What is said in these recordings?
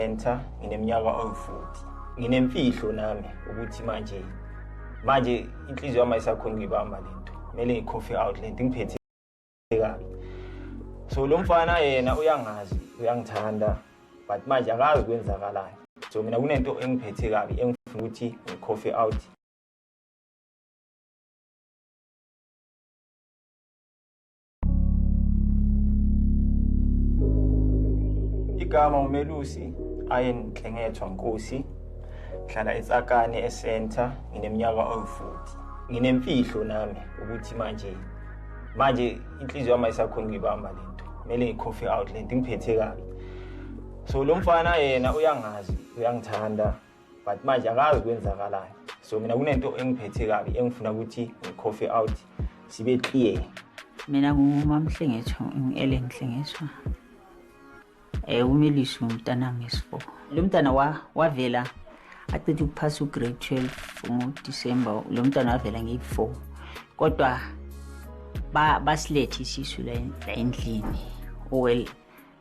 Enter ngineminyaka oyi-40. Nginemfihlo nami ukuthi manje manje inhliziyo yami ayisakhona ukuyibamba le nto. Kumele ngi-coffee out le nto ingiphethe kabi. So lo mfana yena uyangazi, uyangithanda but manje akazi kwenzakalani. So mina kunento engiphethe kabi engifuna ukuthi ngi-coffee out igama umelusi ayenhle ngethwa nkosi ngihlala etsakane esenta ngineminyaka owu-40 nginemfihlo nami ukuthi manje manje inhliziyo yami ayisakhona ukuyibamba le nto kumele ngi-coffee out le nto ingiphethe kabi so lo mfana yena uyangazi uyangithanda but manje akazi kwenzakalayo so mina kunento engiphethe kabi engifuna ukuthi ngicoffee out sibe clear mina ngumamhlengetho ngi-ellen hlengethwa um umilisi ngumntanami esifo lo mntana wavela acithe ukuphasa ugrade 12 ngodisemba lo mntana wavela ngeyi-four kodwa basilethe isisu la endlini owel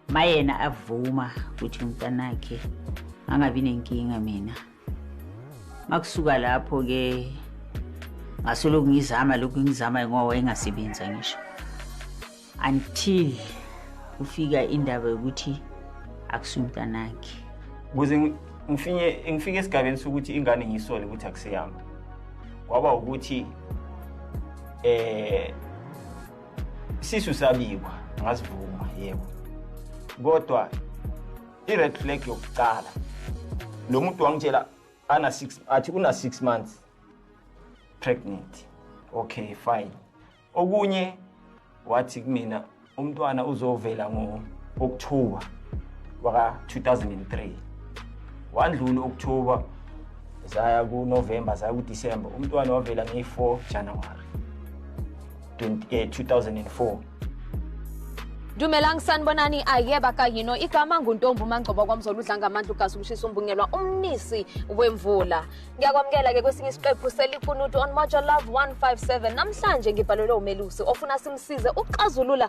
mayena avuma ukuthi umntanakhe angabi nenkinga mina makusuka lapho ke ngasolo kungizama lokhu ngizama ngoba engasebenza ngisho until kufika indaba yokuthi akusumntanakhe kuze ngifike ngifike esigabeni sokuthi ingane ngisole ukuthi akuseyami kwaba ukuthi eh isisu sabikwa ngasivuma yebo kodwa i-red flag yokucala lo muntu wangitshela ana six athi una six months pregnant okay fine okunye wathi kumina umntwana uzovela ngo-oktoba waka-2003 wandlula u-oktoba zaya kunovemba zaya kudisemba umntwana wavela ngeyi-4 januwari 2004 Dumelang sanibonani ayeba kayino igama nguntombi umangcobo kwamzolo udla ngamandla ugasi umshisa umbungelwa umnisi wemvula ngiyakwamukela ke kwesinye isiqephu selikunutu on Mojo Love 157 namhlanje ngibhalelwe umelusi ofuna simsize ukuxazulula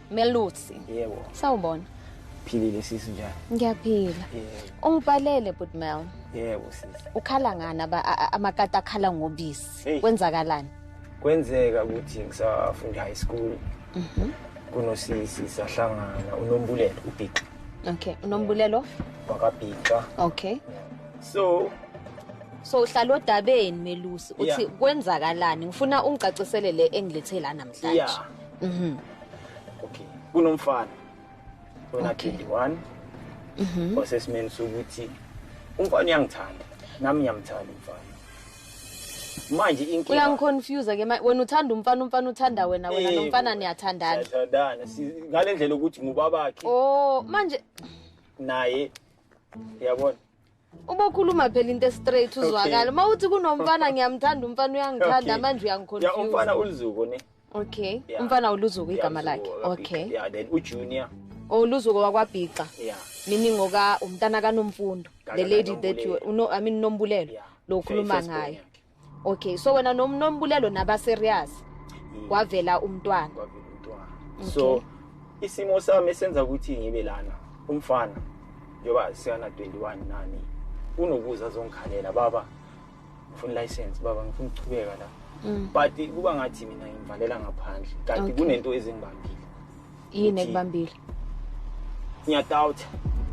Melusi. Yebo. Sawubona. Philile sisi njani? Ngiyaphila. Yebo. Ungibhalele but Mel. Yebo sisi. Ukhala ngani aba amakati akhala ngobisi? Kwenzakalani? Kwenzeka ukuthi ngisafunda high school. Mhm. Mm kunosisi sahlangana unombulelo ubhixa okay unombulelo wakabhixa okay so so uhlala odabeni melusi uthi kwenzakalani ngifuna ungicacisele le engilethela namhlanje Mhm. Okay. Kunomfana. Ona 21. Mhm. Osesimeni sokuthi umfana uyangithanda. Nami ngiyamthanda umfana. manje inkinga uyangiconfuse ke wena uthanda umfana umfana uthanda wena wena eh, nomfana niyathandana siyathandana ngale ndlela ukuthi ngubabakhe oh manje naye uyabona ubokhuluma phela into estraight uzwakala uma uthi kunomfana ngiyamthanda umfana uyangithanda manje uyangiconfuse umfana ulizuko ne okay umfana uluzuko igama lakhe okay yeah then ujunior oluzuko oh, wakwabhixa yeah meaning oka umntana kanomfundo the lady that you no i mean nombulelo lo khuluma ngayo okay so wena nom- nombulelo naba serious Mm. kwavela umntwana kwavela umntwana Okay. so isimo sami esenza ukuthi ngibe lana umfana njengoba siyana 21 nani unokuza azongikhalela baba ngifuna license baba ngifuna ukuchubeka la Mm. but kuba ngathi mina ngivalela ngaphandle kanti Okay. kunento ezingibambile yini ekubambile ngiyadoubt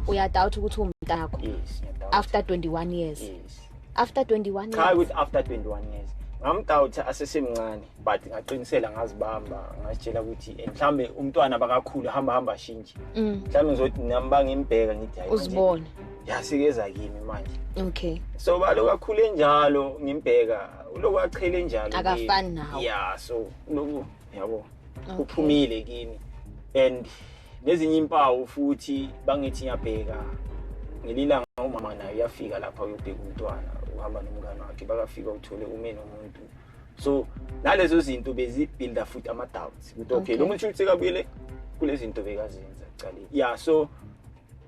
uyadoubt ukuthi umntakho yes after 21 years yes after 21 years cha ukuthi after 21 years ngamdawutha asesemncane but ngaqinisela ngazibamba ngasitshela ukuthi eh, mhlambe umntwana bakakhulu hamba hamba shintshe mm. mhlambe ngizothi nami bangimbheka ngithi hayi uzibone yasikeza kimi manje okay so balo kakhulu enjalo ngimbheka uloku achele njalo akafani nawo yeah so loku yabo okay. uphumile kimi and nezinye impawu futhi bangithi ngiyabheka ngelilanga umama naye uyafika lapha uyobheka umntwana uhamba nomngane wakhe bakafika uthole ume nomuntu so nalezo zinto bezibuilda futhi ama-doubts ukuthi okay lo muntu ukuthi sekabuyele kule zinto bekazenza cale ya so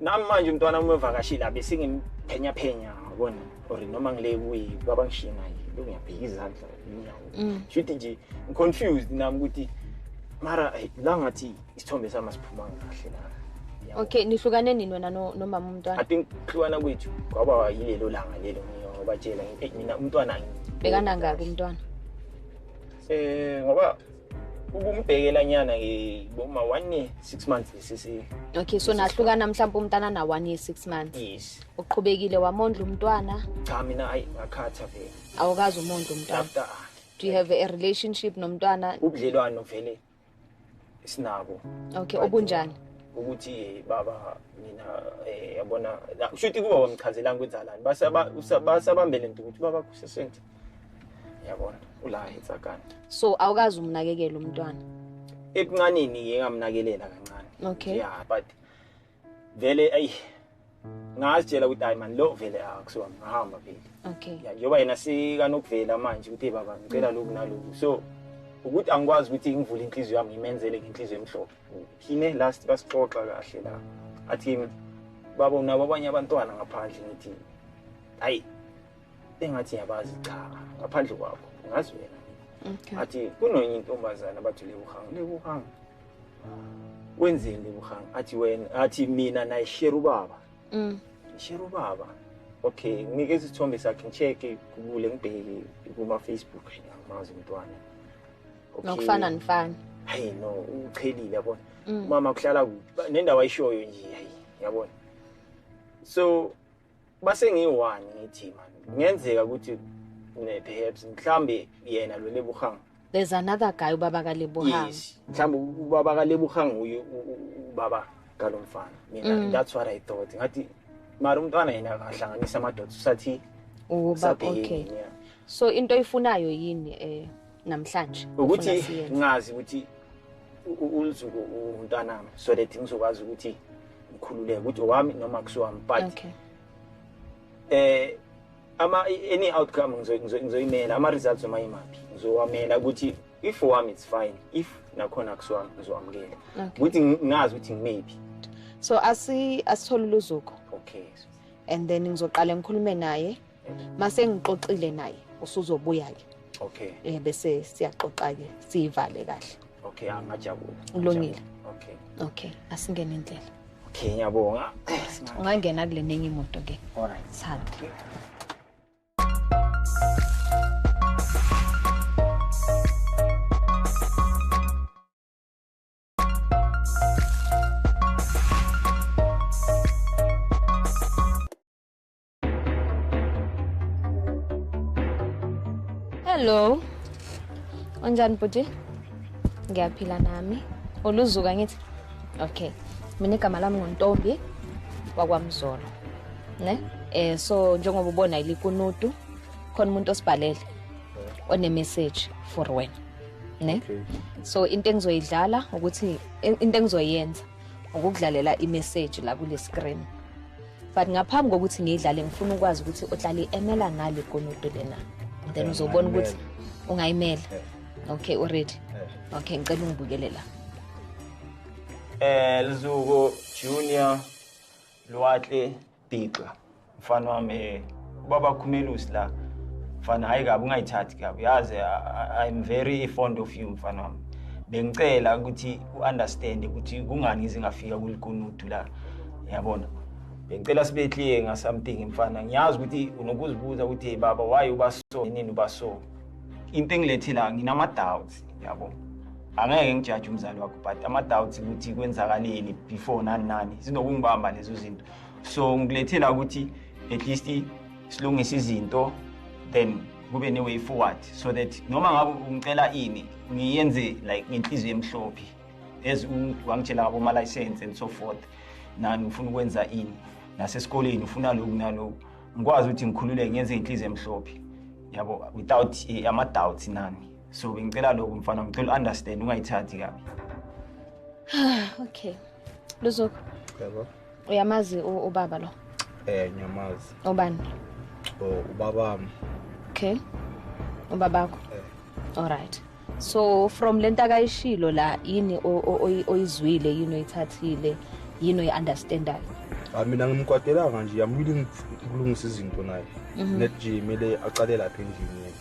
nami manje umntwana uma evakashile abe sengimphenya phenya yabona or noma ngile kuyi baba ngishiye naye ngiyabheka izandla inyawo mm. shuthi nje ngiconfused nami ukuthi mara la ngathi isithombe sami asiphumanga kahle la okay nihlukane nini wena nomama umntwana i think hlukana kwethu kwaba yilelo langa lelo ngiyobatshela mina umntwana bekanangaki umntwana eh ngoba ukumbhekela nyana ke boma one year six months lesisi okay so nahlukana mhlawumbe umntana na one year six months yes uqhubekile wamondla umntwana cha mina ayi ngakhatha vele awukazi umondla umntwana do you have a relationship nomntwana ubudlelwano vele sinabo okay obunjani ukuthi eh, baba mina eh, yabona kusho ukuthi kuba wamchazelanga kwenzalani basabambele nto ukuthi baba kusesente yabona ula hitsa kanti so awukazi umnakekela umntwana ekuncanini yeke ngamnakelela kancane okay yeah but vele ayi ngazitshela ukuthi hayi mani lo vele akusiwa ngahamba vele okay ya njengoba yena sikanokuvela manje ukuthi baba ngicela lokhu nalokhu so ukuthi angikwazi ukuthi ngivule inhliziyo yami ngimenzele ngenhliziyo emhlophe phine last basixoxa kahle la athi baba unabo abanye abantwana ngaphandle ngithi hayi engathi ngiyabazi cha ngaphandle kwakho ngazi wena okay. athi kunonye intombazane abathi lebuhanga lebuhanga wenzeni lebuhanga athi wena athi mina nayishera ubaba mm. shera ubaba okay ngike isithombe sakhe ngicheke kubule ngibheke kuma-facebook ngamazi umntwana nokufana nifana hayi no uchelile yabona mm. umama kuhlala kuphi nendawo ayishoyo nje hayi yabona so base ngiyi-one ngithi mani kungenzeka ukuthi perhaps mhlawumbe yena lo lebuhanga there's another guy ubaba kalebuhanga yes mhlawumbe ubaba kalebuhanga uye ubaba kalo mfana mina mm. that's what i thought ngathi mara umntwana yena akahlanganisa amadoda usathi uba okay yeah. so into oyifunayo yini eh namhlanje ukuthi ngazi ukuthi uLuzuko umntanami so that ngizokwazi ukuthi ukhululeke ukuthi owami noma kusiwami but okay. eh ama any outcome ngizoyimela ama results noma imaphi ngizowamela ukuthi if owami it's fine if nakhona kusiwami ngizowamukela ukuthi ngazi ukuthi ngimephi so asi asithole luzuko okay and then ngizoqala ngikhulume naye mase ngixoxile naye usuzobuya ke okay eh bese siyaxoxa ke sivale kahle okay angajabula ulungile okay okay asingene indlela okay ngiyabonga ungangena kule nenye imoto ke all right sanda okay. Hello. Unjani bhuti? Ngiyaphila nami. Uluzuka ngithi. Okay. Mina igama lami nguNtombi wakwaMzolo. Ne? Eh so njengoba ubona ilikunutu khona umuntu osibhalele one message for wena. Ne? Okay. So into engizoyidlala ukuthi into engizoyenza ukukudlalela i message la kule screen. but ngaphambi kokuthi ngiyidlale ngifuna ukwazi ukuthi uhlale emela ngale konudo lena then uzobona ukuthi ungayimela okay uready okay ngicela ungibukele la eh lizuko junior lwatle bigxa mfana wami eh, ubaba khumelusi la mfana hayi kabi ungayithathi kabi yazi i'm very fond of you mfana wami bengicela ukuthi u-understande ukuthi kungani ngizingafika kulikunudu la yabona bengicela sibe clear nga something mfana ngiyazi ukuthi unokuzibuza ukuthi hey baba why uba so nini uba so into engilethi la nginama doubts yabo angeke ngijaje umzali wakho but ama doubts ukuthi kwenzakaleni before nani nani sinokungibamba lezo zinto so ngilethi la ukuthi at least silungise izinto then kube ne way forward so that noma ngabe ungicela ini ngiyenze like ngenhliziyo emhlophe as wangitshela ngabomalayisense and so forth nani ngifuna ukwenza ini nasesikoleni ufuna lokhu nalokhu ngikwazi ukuthi ngikhululeke ngenze inhliziyo emhlophe yabo without eh, ama-doubts nani so bengicela lokhu mfana ngicela u-understand ungayithathi kabi okay luzoko yebo uyamazi ubaba lo eh ngiyamazi ubani oh ubabami okay ubabakho eh. all right so from lento akayishilo la yini oyizwile yini oyithathile yini oyi-understandayo ah, mina ngimkwatelanga nje i'm willing ukulungisa izinto naye mhm. net nje kumele aqale lapha endlini yena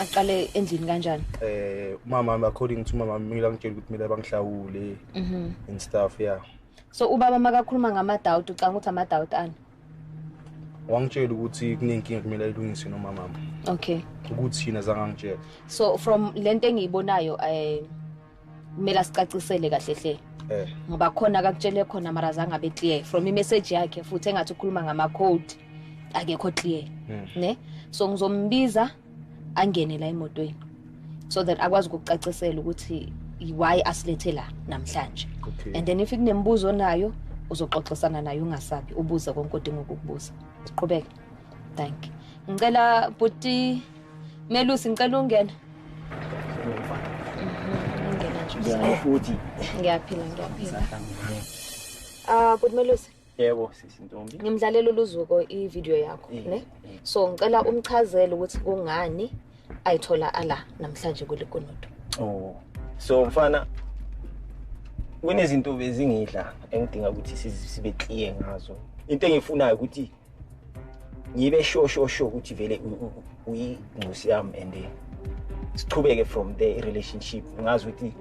aqale endlini kanjani eh umama according to umama mina ngitshela ukuthi mina bangihlawule mhm. and stuff yeah so ubaba makakhuluma ngamadawuti ucanga ukuthi amadawuti ani wangitshela ukuthi kunenkinga kumele ayilungise nomamama okay ukuthi yini azangangitshela so from le nto engiyibonayo um eh, kumele asicacisele kahle hle eh. ngoba khona kakutshele khona mara zange abe clear from imessage yakhe futhi engathi ukhuluma ngama-code akekho clear hmm. ne so ngizombiza angene la emotweni so that akwazi ukucacisela ukuthi why asilethe la namhlanje okay. and then if kunemibuzo nayo uzoxoxisana naye ungasabi ubuze konke odinga ukukubuza siqhubeke thank ngicela buti melusi ngicela ungena ngiyaphi la ngiyaphila ah buti melusi Yebo sisi Ntombi. Ngimdlalela uluzuko i-video yakho, eh, ne? Eh. So ngicela umchazele ukuthi kungani ayithola ala namhlanje kulikunudu. Oh. So mfana kunezinto bezingidla engidinga ukuthi sibe clear ngazo. Into engifunayo ukuthi ngibe sho sho sho ukuthi vele uyingcusi yami and eh, siqhubeke from there i-relationship ngazi ukuthi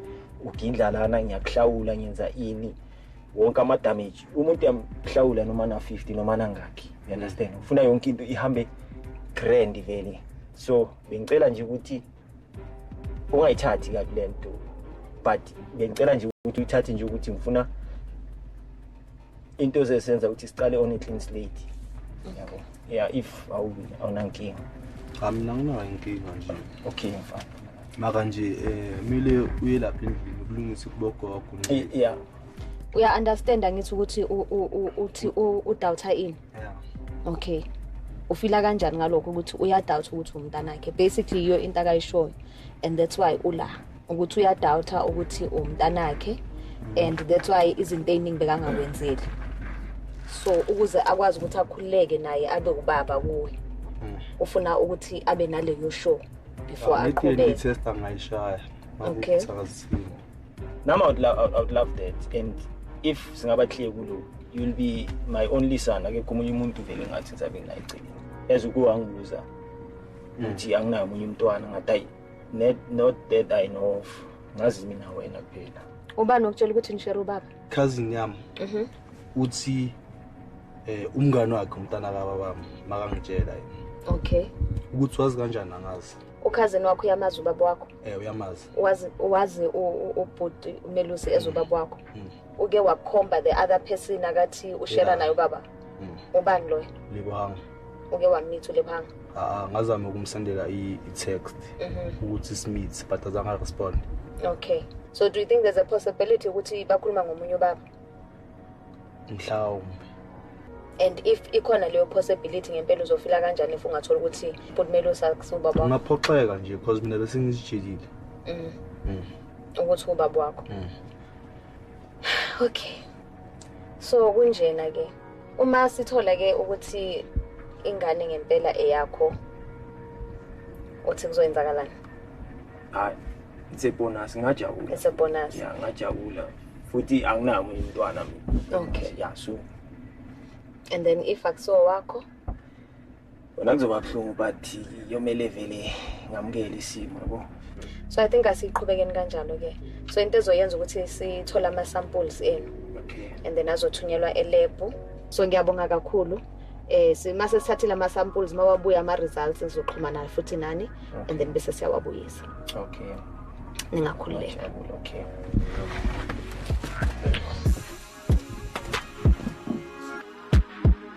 ugindla lana ngiyakuhlawula ngenza ini wonke ama damage umuntu uyamhlawula noma na 50 noma nangakhi you understand ufuna yonke into ihambe grand vele so bengicela nje ukuthi ungayithathi kabi le nto but bengicela nje ukuthi uyithathe nje ukuthi ngifuna into zesenza ukuthi siqale on a clean slate yabo yeah if awunankinga mina nginayo inkinga nje okay mfana maka nje eh mile uye lapha endlini ukulungisa kubogogo yeah uya understand angithi ukuthi uthi udoubt ini yeah okay ufila kanjani ngalokho ukuthi uyadoubt ukuthi umntana wakhe basically iyo into akayishoyo and that's why ula ukuthi uyadoubt ukuthi umntana wakhe and that's why izinto eziningi bekangakwenzeli so ukuze akwazi ukuthi akhululeke naye abe ubaba kuwe hmm. ufuna ukuthi abe naleyo show before I go there. test angayishaya. Okay. Nami I would, lo- I would love that and if singaba clear kulo you'll be my only son akekho omunye umuntu vele ngathi ngizabe nginayicelile as ukuwangibuza mm. ukuthi anginayo omunye umntwana ngathi ayi not that I know of ngazi mina wena kuphela ubani okutshela ukuthi ngishere ubaba cousin yam mhm. uthi eh umngane wakhe umntana ka baba makangitshela yena okay ukuthi wazi kanjani angazi ukhazini wakho uyamazi ubaba wakho eh uyamazi wazi wazi ubhuti umelusi ezobaba wakho mm. mm. uke wakhomba the other person akathi ushera naye ubaba mm. ubani loyo likwami uke wamitha ulephanga ah ngazama ukumsendela i-text mhm. ukuthi simithe but azange respond okay so do you think there's a possibility ukuthi bakhuluma ngomunye ubaba mhlawumbe and if ikhona leyo possibility ngempela uzofila kanjani if ungathola ukuthi kumele usakubaba ungaphoxeka nje because mina bese ngizijikile mm. mm. ukuthi ubaba wakho mm. okay so kunjena ke uma sithola ke ukuthi ingane ngempela eyakho uthi kuzoyenzakalani hayi it's a bonus ngajabula it's a bonus yeah ngajabula futhi anginayo umunye umntwana mina okay yeah so and then if akusiwo wakho Wena kuzoba buhlungu but yomele vele ngamukele isimo yabo. So I think asiqhubekeni kanjalo ke. So into ezoyenza ukuthi sithola ama samples enu. Okay. And then azothunyelwa elab. So ngiyabonga kakhulu. eh simase sithathile ama samples mawabuya ama results sizoxhumana futhi nani okay. and then bese siyawabuyisa okay ningakhululeka okay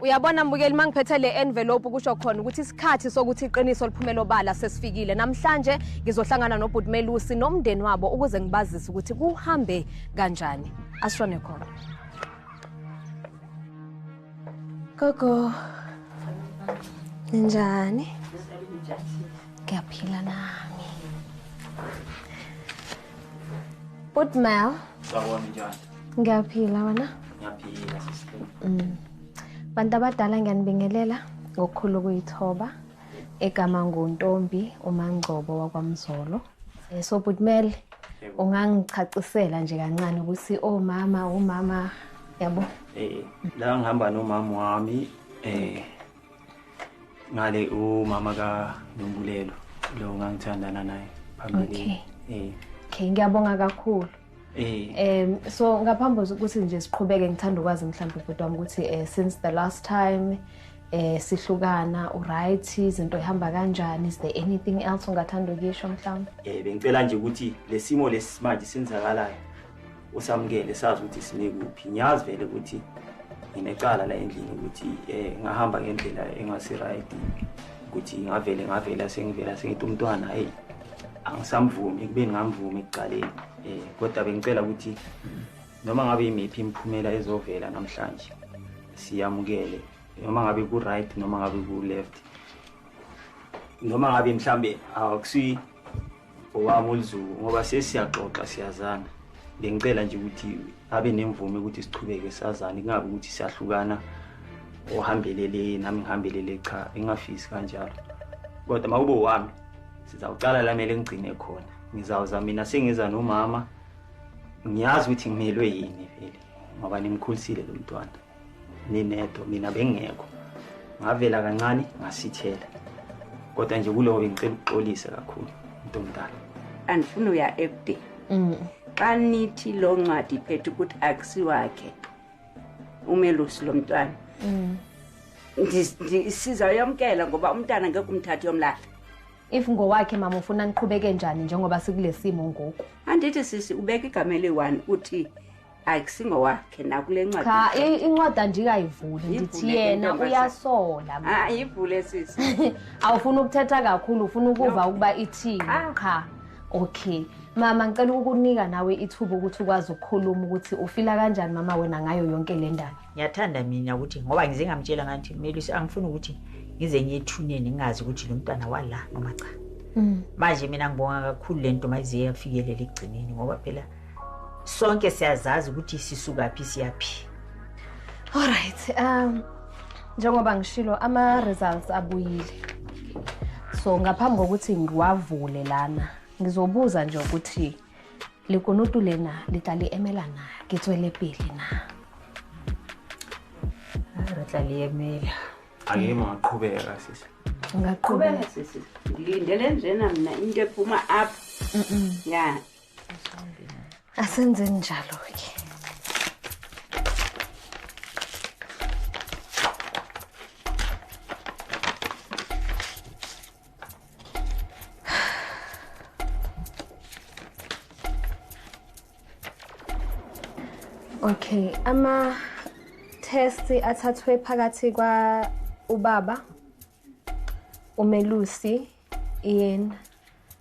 uyabona mbukeli uma ngiphethe le envelope kusho khona ukuthi isikhathi sokuthi iqiniso liphumele obala sesifikile namhlanje ngizohlangana nobhuti melusi nomndeni wabo ukuze ngibazise ukuthi kuhambe kanjani asishone khona gogo ninjani ngiyaphila nami Bhuti Mel. Sawona njani? Ngiyaphila wena? Ngiyaphila sister. Mm. Bantu abadala ngiyanibingelela ngokukhulu ukuyithoba egama nguntombi uMangcobo wakwaMzolo. Eh, so Bhuti Mel ungangichacisela nje kancane ukuthi omama oh, umama oh, yabo. Eh la ngihamba nomama wami eh ngale umama ka Nombulelo lo ngangithandana naye phambili okay eh okay ngiyabonga kakhulu Eh. Em so ngaphambi ukuthi nje siqhubeke ngithanda ukwazi mhlawumbe ubhuti wami ukuthi eh since the last time eh sihlukana uright izinto ihamba kanjani is there anything else ungathanda ukisho mhlawumbe Eh bengicela nje ukuthi lesimo lesimanje senzakalayo usamukele sazi ukuthi sime kuphi ngiyazi vele ukuthi nginecala la endlini ukuthi um ngahamba ngendlela engasi-right ukuthi ngavele ngavela sengivela sengithi umntwana heyi angisamvumi ekubeni ngamvumi ekuqaleni um kodwa bengicela ukuthi noma ngabe yimiphi imiphumela ezovela namhlanje siyamukele noma ngabe ku-right noma ngabe ku-left noma ngabe mhlambe akusi owami olizulu ngoba sesiyaxoxa siyazana bengicela nje ukuthi abe nemvume ukuthi sichubeke sazane kungabi ukuthi siyahlukana ohambelele nami ngihambelele cha engafisi kanjalo kodwa uma kube wami sizawucala la mele ngigcine khona ngizawuza mina sengiza nomama ngiyazi ukuthi ngimelwe yini vele ngoba nimkhulisile lo mntwana ninedwa mina bengekho ngavela kancane ngasithela kodwa nje kulowo bengicela ukuxolise kakhulu umuntu omdala andifuna uya ekude mm. xa nithi loo ncwadi iphethe ukuthi akusiwakhe umelusi lo mntwana mm. sizayomkela ngoba umntana ngeke umthathi yomlahla if ngowakhe mama ufuna niqhubeke njani njengoba sikule simo ngoku andithi sisi ubeka igama eliyi-one uthi hayi kusingowakhe nakule ncwadi cha i- incwadi andikayivuli Yivule ndithi ke, yena ntombazane. uyasola mina. hayi ivule sisi awufuni ukuthetha kakhulu ufuna ukuva ukuba ithini Ah. cha okay mama ngicela ukukunika nawe ithuba ukuthi ukwazi ukukhuluma ukuthi ufila kanjani mama wena ngayo yonke le ndaba ngiyathanda mina ukuthi ngoba ngize ngamtshela ngathi melusi angifuni ukuthi ngize ngiyethuneni ngingazi ukuthi lo mntwana wala noma cha manje mina ngibonga kakhulu le nto mayize yafikelela ekugcineni ngoba phela sonke siyazazi ukuthi sisukaphi siyaphi alright um njengoba ngishilo ama-results abuyile so ngaphambi kokuthi ngiwavule lana ngizobuza nje ukuthi likunutu lena litlali emela na ngitswele pele na re tla li emela angima ngaqhubeka sisi ngaqhubeka sisi ngilindele njena mina into ephuma up ya asenzeni njalo-ke Okay, ama test athathwe phakathi kwa ubaba uMelusi yena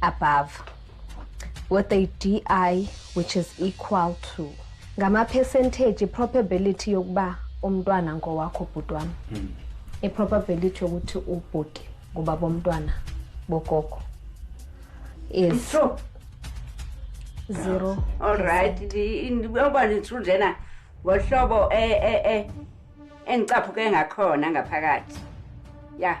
above with a di which is equal to ngamapercentage i-probability yokuba umntwana ngowakho bhuti wami hmm. i-probability yokuthi ubhuti ngoba bomntwana bogogo is true zero all right uba ne-true njena ngohlobo e, e, e, engicaphuke ngakhona ngaphakathi ya yeah.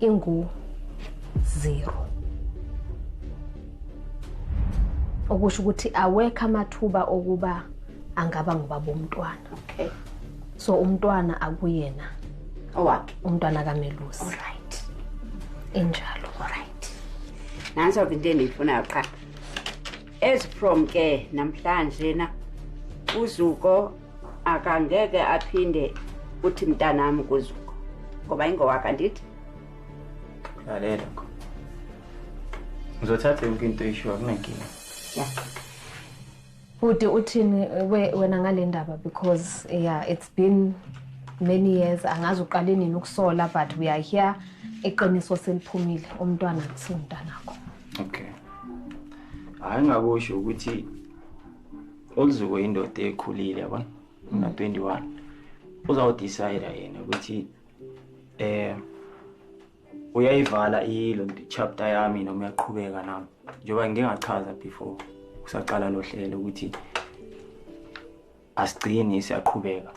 ingu zero okusho ukuthi awekho amathuba okuba angaba ngubaba umntwana okay so umntwana akuyena owakhe umntwana kamelusi right injalo right nanso into engiyifunayo qha as from ke namhlanje na uzuko akangeke aphinde uthi mntanami kuzuko ngoba ingowaka ndithi lalela kho ngizothatha yonke into eyishiwa kunenkinga ya bhuti uthini wena ngale ndaba because yeah it's been many years angazi uqale nini ukusola but we are here iqiniso seliphumile umntwana kusimntanakho okay hayi ngakusho ukuthi uLuzuko indoda ekhulile yabona una 21 uzawudecide yena ukuthi eh uyayivala ilo chapter yami noma uyaqhubeka nami njengoba ngingachaza before kusaqala lo hlelo ukuthi asigcini siyaqhubeka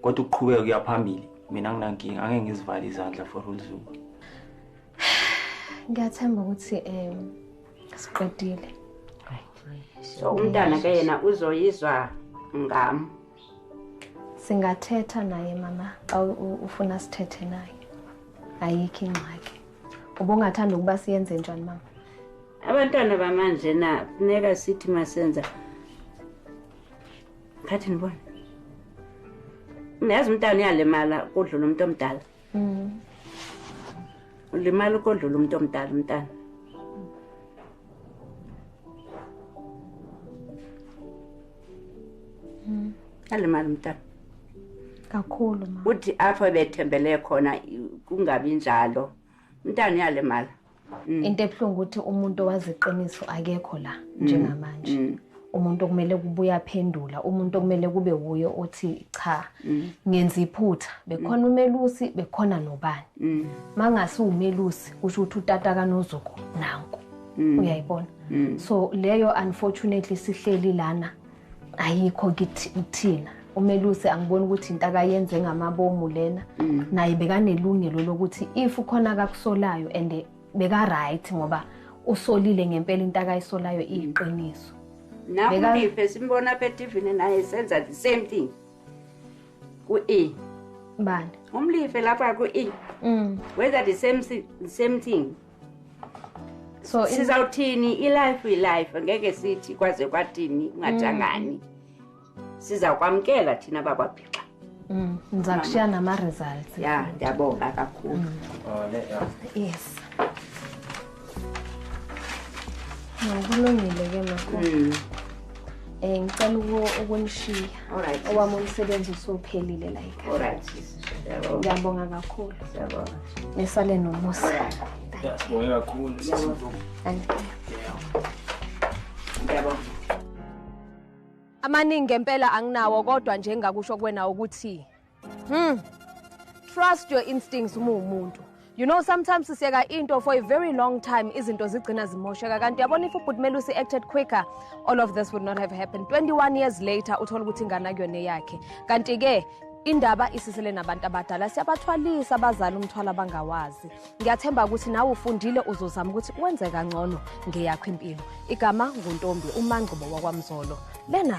kodwa ukuqhubeka kuyaphambili mina nginankinga angeke ngizivale izandla for uLuzuko ngiyathemba ukuthi um siqedile so umntana ke yena uzoyizwa ngam singathetha naye mama xa ufuna sithethe naye ayikho ingxaki ubungathanda ukuba siyenze njani mama abantwana bamanje na funeka sithi masenza khathi ndibona niyazi umntana uyalimala kudlula umuntu omdala Mm. Ulimala ukodlula umuntu omdala umntana. Mm. Alimala umntana. Kakhulu ma. Uthi apho bethembele khona kungabi njalo. Umntana uyalimala. mm. into ebuhlungu ukuthi umuntu owazi iqiniso akekho la mm. njengamanje mm. umuntu okumele kubuye aphendula umuntu okumele kube wuye othi cha mm. ngenza iphutha bekhona mm. umelusi bekhona nobani mm. mangase umelusi kusho ukuthi utata kanozuko nanku mm. uyayibona mm. so leyo unfortunately sihleli lana ayikho ngithi ukuthina umeluse angiboni ukuthi into akayenze ngamabomu lena mm. naye bekanelungelo lokuthi if ukhona akakusolayo and beka-right ngoba usolile ngempela into akayisolayo iyiqiniso nakulife simbona apha etivini naye senza the same thing ku-e bani umlife lapha ku-e mm. wenza the same, the same thing so sizawuthini ilife ilife ngeke sithi kwaze kwathini ungatshangani mm. sizakwamkela thina bakwabhixa mm, ndiza kushiya nama-results ya ndiyabonga kakhulu mm. oh, yes nokulungile ke mako um eh, ngicela ukunishiya owami umsebenzi usuphelile layika ngiyabonga kakhulu nisale nomusa ngiyabonga kakhulu amaningi ngempela anginawo kodwa nje engakusho kuwena ukuthi hmm trust your instincts uma uwumuntu You know sometimes sisiyeka into for a very long time izinto zigcina zimosheka kanti yabona if ubhuti Melusi acted quicker all of this would not have happened 21 years later uthola ukuthi ingane akuyona eyakhe kanti ke indaba isisele nabantu abadala siyabathwalisa abazali umthwalo abangawazi ngiyathemba ukuthi nawe ufundile uzozama ukuthi wenze kangcono ngeyakho impilo igama nguntombi umangqubo wakwamzolo lena